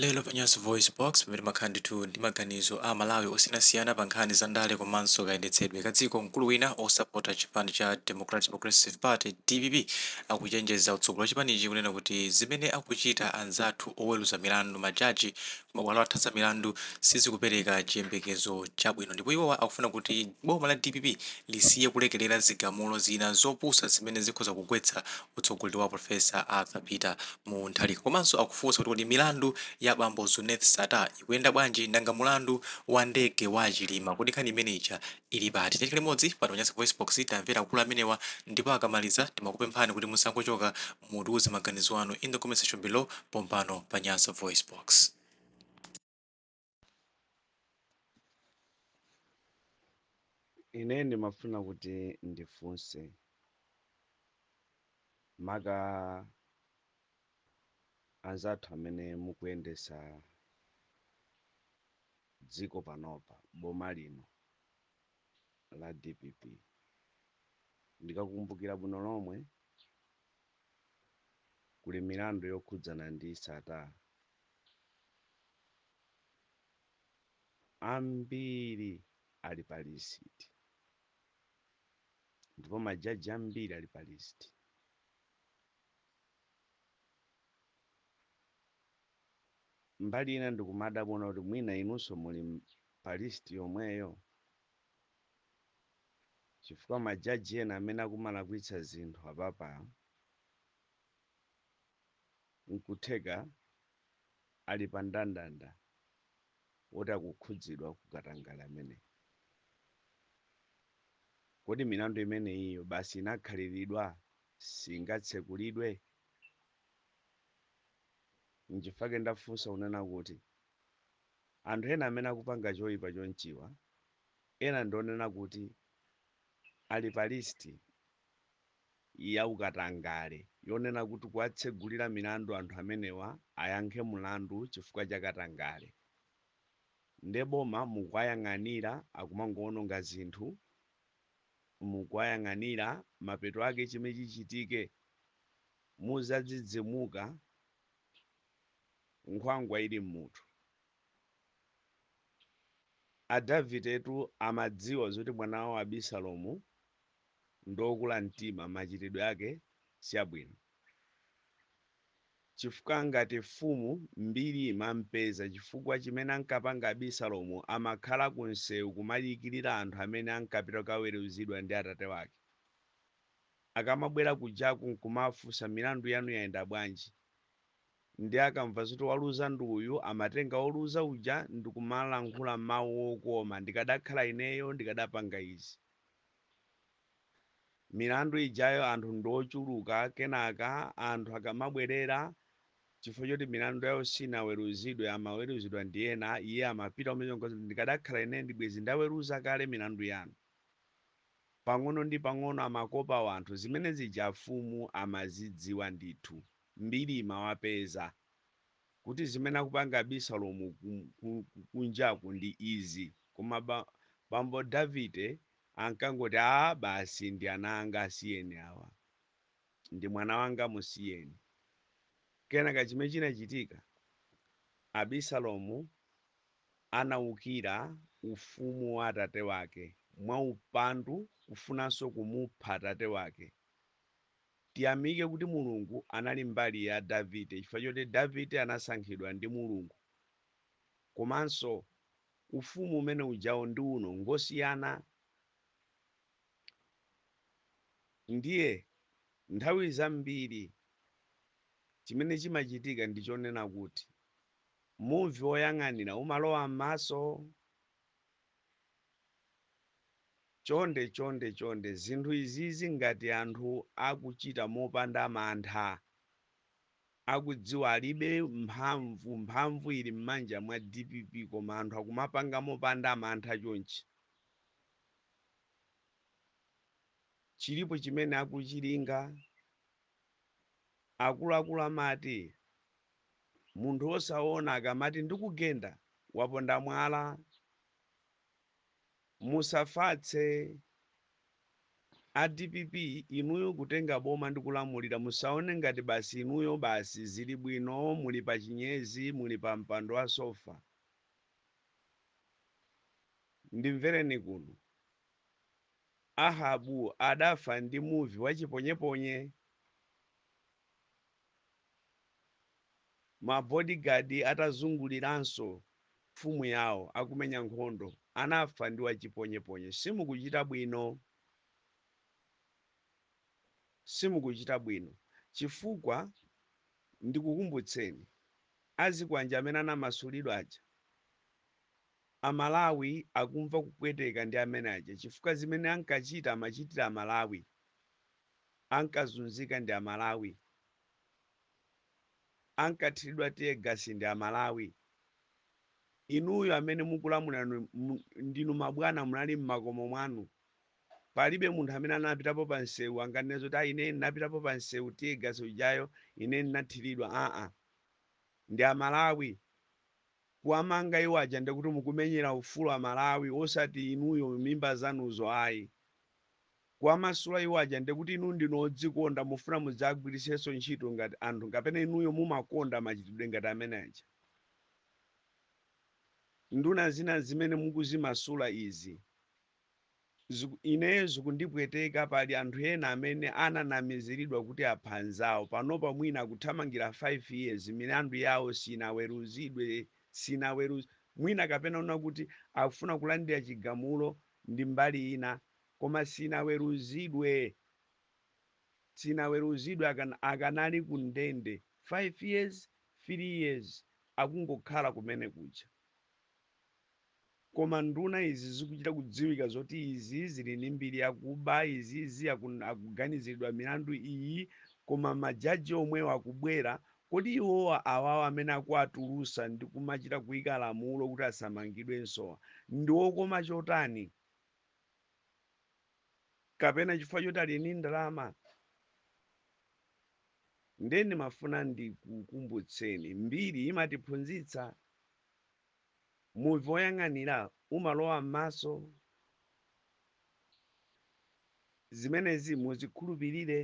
Lero pa Nyasa VoiceBox, pamene timakhala ndithu ndi maganizo a Amalawi osiyanasiyana pa nkhani za ndale komanso kayendetsedwe ka dziko, mkulu wina osapota chipani cha Democratic Progressive Party, dpp, akuchenjeza utsogoleri wa chipanichi kunena kuti zimene akuchita anzathu oweruza milandu, majaji, ku mabwalo athu za milandu sizikupereka chiyembekezo chabwino ndipo iwowa akufuna kuti boma la dpp lisiye kulekerera zigamulo zina zopusa zimene zikhoza kugwetsa utsogoleri wa Prof. Arthur Peter Mutharika komanso akufunsa kuti kodi milandu ya bambo Zuneth Sattar ikuyenda bwanji? Nanga mulandu wa ndege wa Chilima kodi nkhani imene ija ili pati? Tikhale limodzi pano pa Nyasa VoiceBox timvere akulu amenewa ndipo akamaliza timakupemphani kuti musangochoka mutiuze maganizo anu in the comment section below pompano pa Nyasa VoiceBox. ine ndimafuna kuti ndifunse maka anzathu amene mukuyendesa dziko panopa boma lino la dpp ndikakumbukira bwino lomwe kuli milandu yokhudzana ndi Sattar ambiri ali pa list ndipo majaji ambiri ali pa list mbali ina ndikumadabwa kuti mwina inunso muli pa list yomweyo chifukwa majaji ena amene akumalakwitsa zinthu apapa N'kutheka ali pa ndandanda woti akukhudzidwa ku katangale ameneyu. Kodi milandu imeneyiyo basi inakhaliridwa singatsekulidwe? N'chifukwa chake ndafunsa kunena kuti, Anthu ena amene akupanga choipa chonchiwa, ena ndi onena kuti ali pa list ya ukatangale yonena kuti kuwatsegulira milandu anthu amenewa ayankhe mulandu chifukwa cha katangale nde boma mukuwayang'anira akumangowononga zinthu mukuwayang'anira mapeto ake chimene chichitike muzadzidzimuka nkhwangwa ili mmutu a Davidetu amadziwa zoti mwana wawo Abisalomu ndiokula mtima machitidwe ake siabwino chifukwa ngati mfumu mbiri imampeza chifukwa chimene ankapanga Abisalomu amakhala ku mseu kumadikirira anthu amene ankapita kukaweruzidwa ndi atate wake akamabwera kujaku nkumafunsa milandu yanu yayenda bwanji ndiye akamva zoti waluza ndi uyu amatenga woluza uja ndikumalankhula mau okoma ndikadakhala ineyo ndikadapanga izi Milandu ijayo anthu ndi ochuluka kenaka anthu akamabwerera chifukwa choti milandu yawo sinaweruzidwe amaweruzidwa ndi ena iye amapita kumene nkuwauza kuti ndikadakhala ine ndibwezi ndaweruza kale milandu yanu. Pang'ono ndi pang'ono amakopa wanthu zimene zija afumu amazidziwa ndithu. Mbiri imawapeza. kuti zimene akupanga abisalomu ku ku ku kunjaku ndi izi koma ba bambo davide ankangoti aa basi ndi ana anga asiyeni awa ndi mwana wanga musiyeni kenaka chimene chinachitika abisalomu anaukira ufumu wa atate wake mwa upandu kufunanso kumupha atate wake Tiyamike kuti Mulungu anali mbali ya Davide chifukwa choti Davide anasankhidwa ndi Mulungu. Komanso ufumu umene ujawo ndi uno ngosiyana. Ndiye nthawi zambiri chimene chimachitika ndi chonena kuti muvi woyang'anira umalowa m'maso. Chonde chonde chonde zinthu izizi ngati anthu akuchita mopanda mantha akudziwa alibe mphamvu mphamvu ili mmanja mwa dpp koma anthu akumapanga mopanda mantha chonchi chilipo chimene akuchilinga akuluakulu amati Munthu osaona akamati ndikugenda, waponda mwala. Musafatse a dpp inuyo kutenga boma ndi kulamulira, musaone ngati basi inuyo basi zili bwino muli pa chinyezi, muli pa mpando wa sofa. Ndimvereni kuno. Ahabu adafa ndi muvi wa chiponyeponye. Ma bodyguard atazunguliranso mfumu yao akumenya nkhondo anafa ndi wachiponyeponye simukuchita bwino simukuchita bwino chifukwa ndikukumbutseni azikwanja amene anamasulidwa aja amalawi akumva kupweteka ndi amene aja chifukwa zimene ankachita amachitira amalawi ankazunzika ndi amalawi, ankathiridwa tear gas ndi amalawi, inuyo amene mukulamula ndinu mabwana munali mmakomo mwanu, palibe munthu amene anapitapo pa msewu anganene kuti ayi ine ndinapitapo pa msewu tear gas ujayo ine ndinathiridwa aa ndi amalawi kuwamanga iwo aja ndikuti mukumenyera ufulu amalawi osati inuyo mimba zanuzo ayi. kuwamasula iwo aja ndikuti inu ndinu odzikonda mufuna mudzagwiritsenso ntchito ngati anthu kapena inuyo mumakonda machitidwe ngati amene aja nduna zina zimene mukuzimasula izi ziku, ineyo zikundipweteka pali anthu ena amene ananamiziridwa kuti apha anzawo panopa mwina akuthamangira 5 years milandu yawo sinaweruzidwe sinaweruz mwina kapena una kuti akufuna kulandira chigamulo ndi mbali ina Koma sinaweruzidwe, sinaweruzidwe akan akanali ku ndende 5 years, 3 years akungokhala kumene kuja. Koma nduna izi zikuchita kudziwika zoti izi zili ndi mbiri yakuba, izizi akun akuganiziridwa milandu iyi, koma ma judge omwewo akubwera, kodi iwowa awawa amene akuwatulusa ndi kumachita kuika lamulo kuti asamangidwensowa ndi okoma chotani? kapena chifukwa choti ali ndi ndalama ndiye ndimafuna ndikukumbutseni mbiri imatiphunzitsa muvi woyang'anira umalowa m'maso zimenezi muzikhulupirire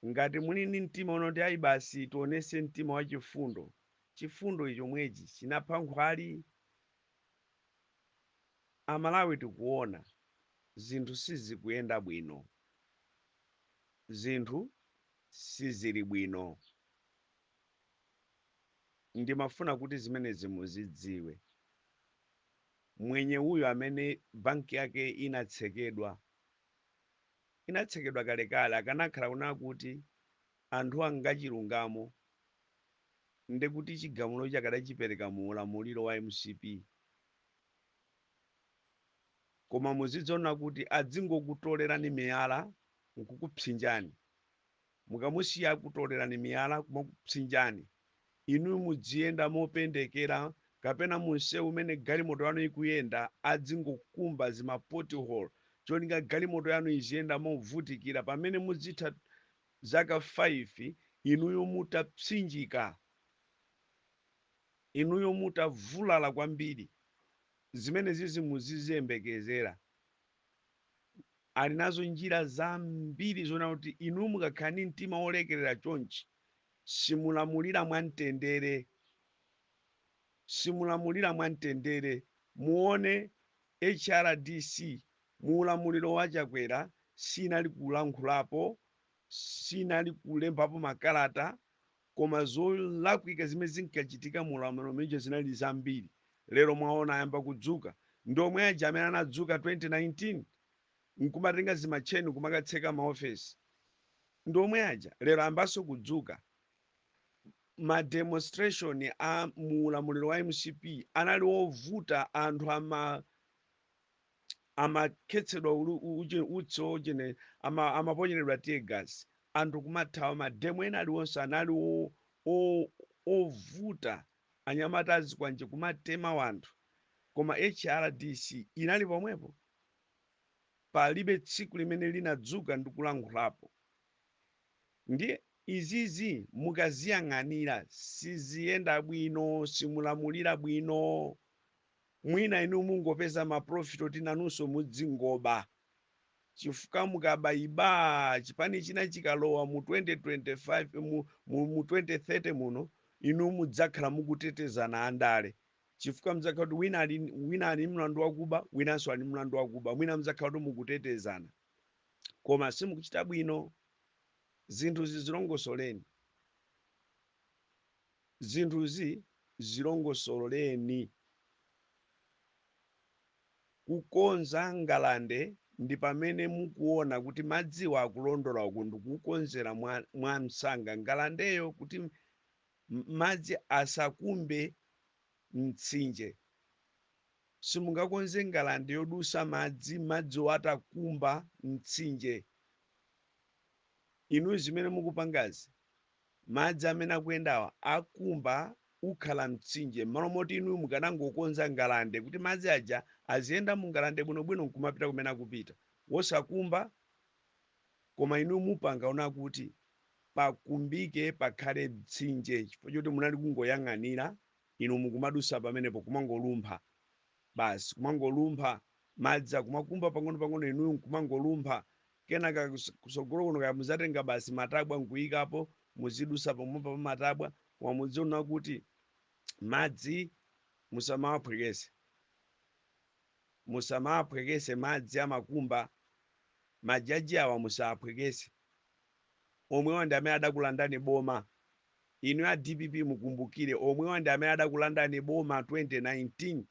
ngati muli ndi mtima unoti ayi basi tionese mtima wachifundo chifundo chomwechi chinapha nkhwali Amalawi tikuona zinthu sizikuyenda bwino, zinthu sizili bwino ndimafuna kuti zimenezi muzidziwe. Mwenye uyo amene banki yake inatsekedwa, inatsekedwa kalekale akanakhala kunena kuti anthu ngachilungamo nde kuti chigamulochi akadachipereka mu ulamuliro wa mcp? koma muzidziona kuti adzingokutolerani miyala nkukupsinjani. mukamusiya akutolerani miyala kumakupsinjani inuyo mudziyenda mopendekera kapena mumseu umene galimoto yanu ikuyenda adzingokumba zima pot hole cholinga galimoto yanu iziyenda movutikira pamene mudzitha zaka 5 inuyo mutapsinjika, inuyo mutavulala kwambiri, zimenezizi muziziyembekezera. Ali nazo njira zambiri zoona kuti inuyo mukakhala ndi mtima wolekerera chonchi, simulamulira mwamtendere, simulamulira mwamtendere. Muone HRDC Mu ulamuliro wa Chakwera sinali kulankhulapo, sinali kulembapo makalata koma zolakwika zimene zinkachitika mu ulamuliro umene uja zinali zambiri. Lero mwaona ayamba kudzuka. Ndi omwe aja amene anadzuka 2019 n'kumatenga zimatcheni n'kumakatseka maofesi. Ndi omwe aja. Lero ayambanso kudzuka. Ma demonstration a mu ulamuliro wa mcp anali ovuta anthu ama. amakhetsedwa utsi ojene, amaponyeredwa tear gas anthu kumathawa mademo ena aliwonse anali ovuta anyamata azikwanje kumatema wanthu koma hrdc inali pomwepo palibe tsiku limene linadzuka ndi kulankhulapo ndiye izizi mukaziyang'anira siziyenda bwino simulamulira bwino mwina inu mungopeza ma profit oti nanunso mudzingoba chifukwa mukabaiba chipani china chikalowa mu 2025 mu, mu, mu 2030 muno inu mudzakhala mukutetezana andale chifukwa mudzakhala kuti wina ali mlandu wakuba winanso ali mlandu wakuba mwina mudzakhala kuti mukutetezana koma simukuchita bwino zinthuzi zilongosoleni Zinthuzi zilongosoleni. Kukonza ngalande ndi pamene mukuona kuti madziwa akulondola uku ndikukonzera mwamsanga ngalandeyo kuti madzi asakumbe mtsinje. Simungakonze ngalande yodusa madzi madziwo atakumba mtsinje. Inuyo zimene mukupangazi Madzi amene akuyendawa akumba ukhala mtsinje m'malo moti inuyo mukanangokonza ngalande kuti madzi aja aziyenda mu ngalande bwinobwino n'kumapita kumene akupita wosakumba koma inuyo mupanga ona kuti pakumbike pakhale mtsinje chifukwa choti munali kungoyang'anira inu mukumadutsa pamenepo kumangolumpha basi kumangolumpha madzi akumakumba pang'onopang'ono inuyo n'kumangolumpha Kenaka kusogolo kuno kaya muzatenga basi matabwa nkuyikapo, muzidusa pomwepa pa matabwa, koma mudziona kuti madzi musamawaphwekese. Musamawaphwekese madzi amakumba, majaji awa musawaphwekese. Omwewa ndi amene adakulandani boma. Inuyo a dpp mukumbukire, omwewa ndi amene adakulandani boma 2019.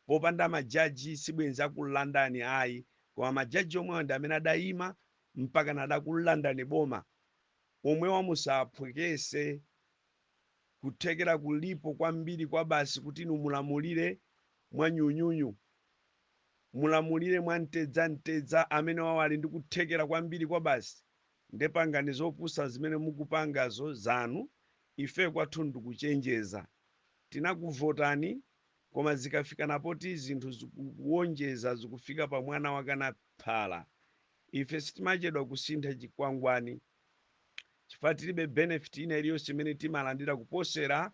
popanda majaji sibwenzi akulandani ayi koma majaji omwewa ndi amene adayima mpakana kukulandani boma omwewa musaphwekese kuthekera kulipo kwambiri kwabasi kuti inu mulamulire mwa nyunyunyu mulamulire mwa mtedza mtedza amenewawo ali ndi kuthekera kwambiri kwabasi nde pangani zopusa zimene mukupangazo zanu ife kwathu ndikuchenjeza tinakuvotani koma zikafikana poti zinthu zikuwonjeza zikufika pa mwana wakana phala ife sitimachedwa kusintha chikwangwani chifukwa tilibe benefit ina iliyonse imene timalandira kuposera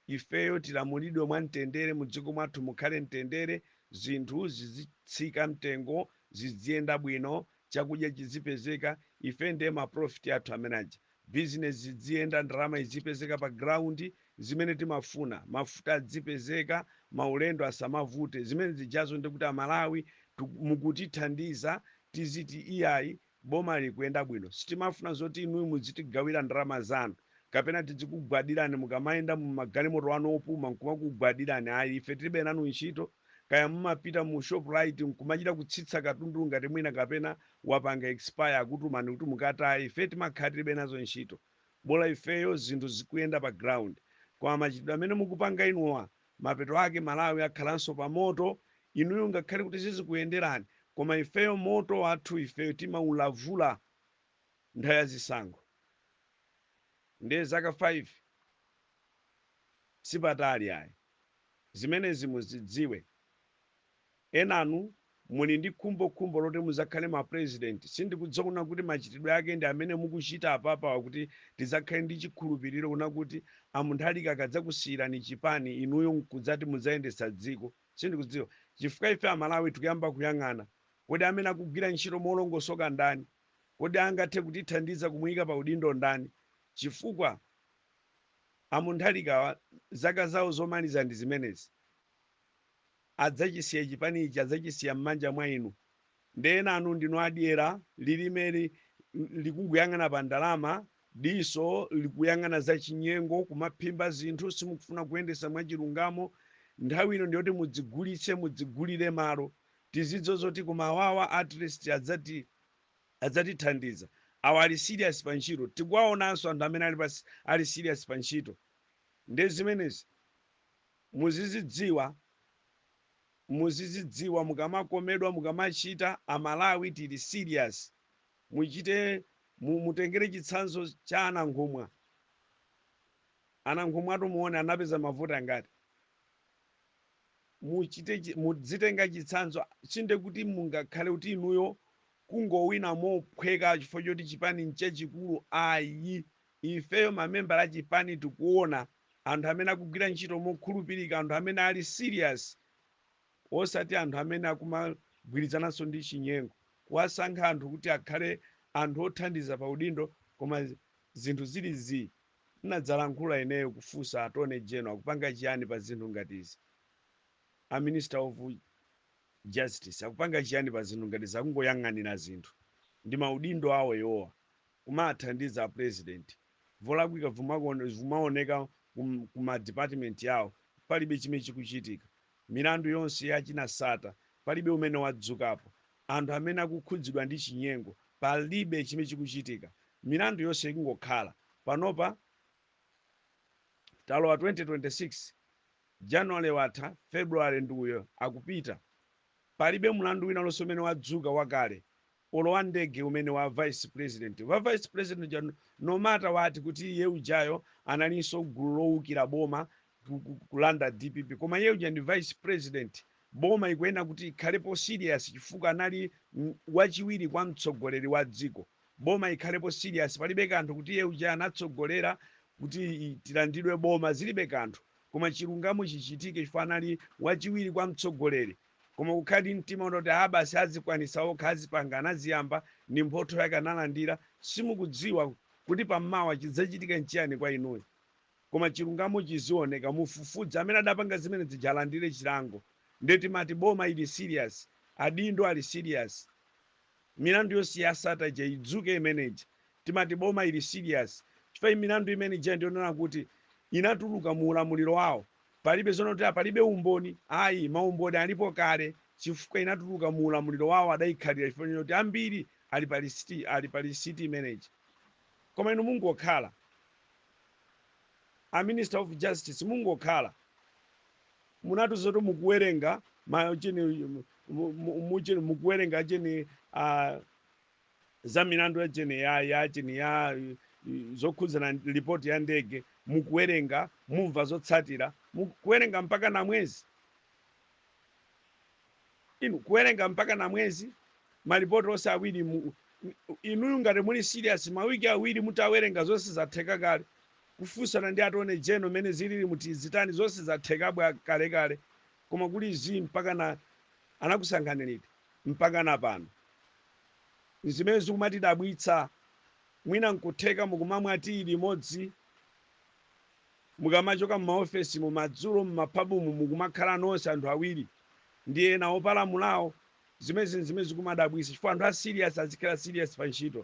ifeyo tilamulidwe mwamtendere mu dziko mwathu mukhale mtendere zinthu zizitsika mtengo zidziyenda bwino chakudya chizipezeka ife ndiye ma profit athu amene aja Business zidziyenda, ndalama izipezeka pa ground, zimene timafuna, mafuta adzipezeka, maulendo asamavute, zimene zijazo ndiye kuti a Malawi mukutithandiza tiziti iyayi boma likuyenda bwino. Sitimafuna zoti inuyo mudzitigawira ndalama zanu kapena tidzikugwadirani mukamayenda mu magalimoto anu opuma nkumakugwadirani ayi, ife tilibe nanu ntchito. kaya mumapita mu Shoprite nkumachita kutsitsa katundu ngati mwina kapena wapanga expire akutumani kuti mukataye, ife timakhala tilibe nazo ntchito bola ifeyo zinthu zikuyenda pa ground. Koma machitidwe amene mukupanga inuwa mapeto ake Malawi akhalanso pa moto inuyo ngakhale kuti zizikuyenderani koma ifeyo moto wathu ifeyo timaulavula nthawi ya zisankho ndiye zaka 5 sipatali ayi. Zimenezi muzidziwe. Enanu muli ndi khumbo khumbo loti muzakhale ma president sindikudziwa kunena kuti machitidwe ake ndi amene mukuchita apapawa kuti tidzakhale ndi chikhulupiliro kunena kuti a Mutharika akadzakusiyirani chipani inuyo nkudzati mudzayendetsa dziko sindikudziwa chifukwa ife amalawi tikuyamba kuyang'ana kodi amene akugwira ntchito molongosoka ndani? Kodi angathe kutithandiza kumuyika pa udindo ndani? Chifukwa. a Mutharikawa zaka zawo zomaliza ndi zimenezi. Adzachisiya chipani ichi, adzachisiya mmanja mwa inu. Nde enanu ndinu a dyera, lilimeli likungoyang'ana pa ndalama, diso likuyang'ana za chinyengo, kumaphimba zinthu, simukufuna kuyendesa mwa chilungamo. Nthawi ino ndiyoti mudzigulitse, mudzigulire malo. Tizidziwa zoti koma awawa atleast adzati. adzatithandiza. Awa ali serious pa ntchito. Tikuwaonanso anthu amene ali ali serious pa ntchito. Ndiye zimenezi muzizidziwa muzizidziwa mukamakomedwa mukamachita a Malawi tili serious. Muchite mu, mutengere chitsanzo cha a Nankhumwa. A Nankhumwatu muone anapeza mavuto angati. mudzitenga chitsanzo sindiye kuti mungakhale kuti inuyo kungowina mophweka chifukwa choti chipani nchachikulu ayi ifeyo mamembala a chipani tikuona anthu amene akugwira ntchito mokhulupirika anthu amene ali serious osati anthu amene akumagwirizananso ndi chinyengo kuwasankha anthu kuti akhale anthu othandiza pa udindo koma zinthu zili zii Nnadzalankhula ineyo kufunsa attorney general akupanga chiyani pa zinthu ngati izi? A minister of justice akupanga chiyani pa zinthu ngati izi? Akungoyang'anira zinthu ndi ma udindo awo iwowa kumaathandiza a president volakwika vimawoneka ku ma department awo palibe chimene chikuchitika milandu yonse ya achina Sata palibe umene wadzukapo anthu amene akukhudzidwa ndi chinyengo. Palibe chimene chikuchitika. Milandu yonse ikungokhala. Panopa talowa 2026, January watha, February ndi uyo akupita. Palibe mlandu wina uliwonse umene wadzuka wakale olo wa ndege umene wa vice president. Wa vice president uja no matter what kuti iye ujayo analinso m'gulu lowukira boma ku- ku- kulanda dpp koma iye uja ndi vice president boma ikuyenera kuti ikhalepo serious chifukwa anali m- wachiwiri kwa mtsogoleri wa dziko boma ikhalepo serious palibe kanthu kuti iye uja anatsogolera kuti i- tilandidwe boma zilibe kanthu koma chilungamo chichitike chifukwa anali wachiwiri kwa mtsogoleri koma kukhala ndi mtima unoti a basi azikwanisa okha azipanga anaziyamba ndi mphotho yake analandira simukudziwa kuti pammawa chidzachitika nchiyani kwa inuyo koma chilungamo chizioneka mufufuze amene adapanga zimene zija alandire chilango nde timati boma ili serious adindo ali serious milandu yonse ya sata ija idzuke imene ija timati boma ili serious chifukwa milandu imene ija ndionena kuti inatuluka mu ulamuliro wawo palibe zonena kuti palibe umboni ayi maumboni alipo kale chifukwa inatuluka mu ulamuliro wawo adaikhalira chifukwa choti ambiri ali pa lisiti ali pa lisiti imene ija koma inu mungokhala a minister of justice mungokhala munatiuza zoti mukuwerenga ma chini mu- mu- mu- chini- mukuwerenga chini ah, za milandu ya chini ya ya chini ya eh, zokhudzana ndi ripoti ya ndege mukuwerenga mumva zotsatira mukuwerenga mpaka na mwezi inu kuwerenga mpaka na mwezi malipoti onse awiri mu, inuyo ngati muli serious mawiki awiri mutawerenga zonse zatheka kale kufunsana ndi attorney general mene zilili muti zitani zonse zatheka bwa kale kale koma kuli zii mpaka na anakusankhani liti mpaka na pano zimene zikumatidabwitsa mwina nkutheka mukumamwa tiyi limodzi Mukamachoka m'maofesimu madzulo m'mapabumu mukumakhala nonse anthu awiri ndi ena opalamulawo zimenezi nzimene zikumadabwisa chifukwa anthu a serious azikhala serious pa ntchito.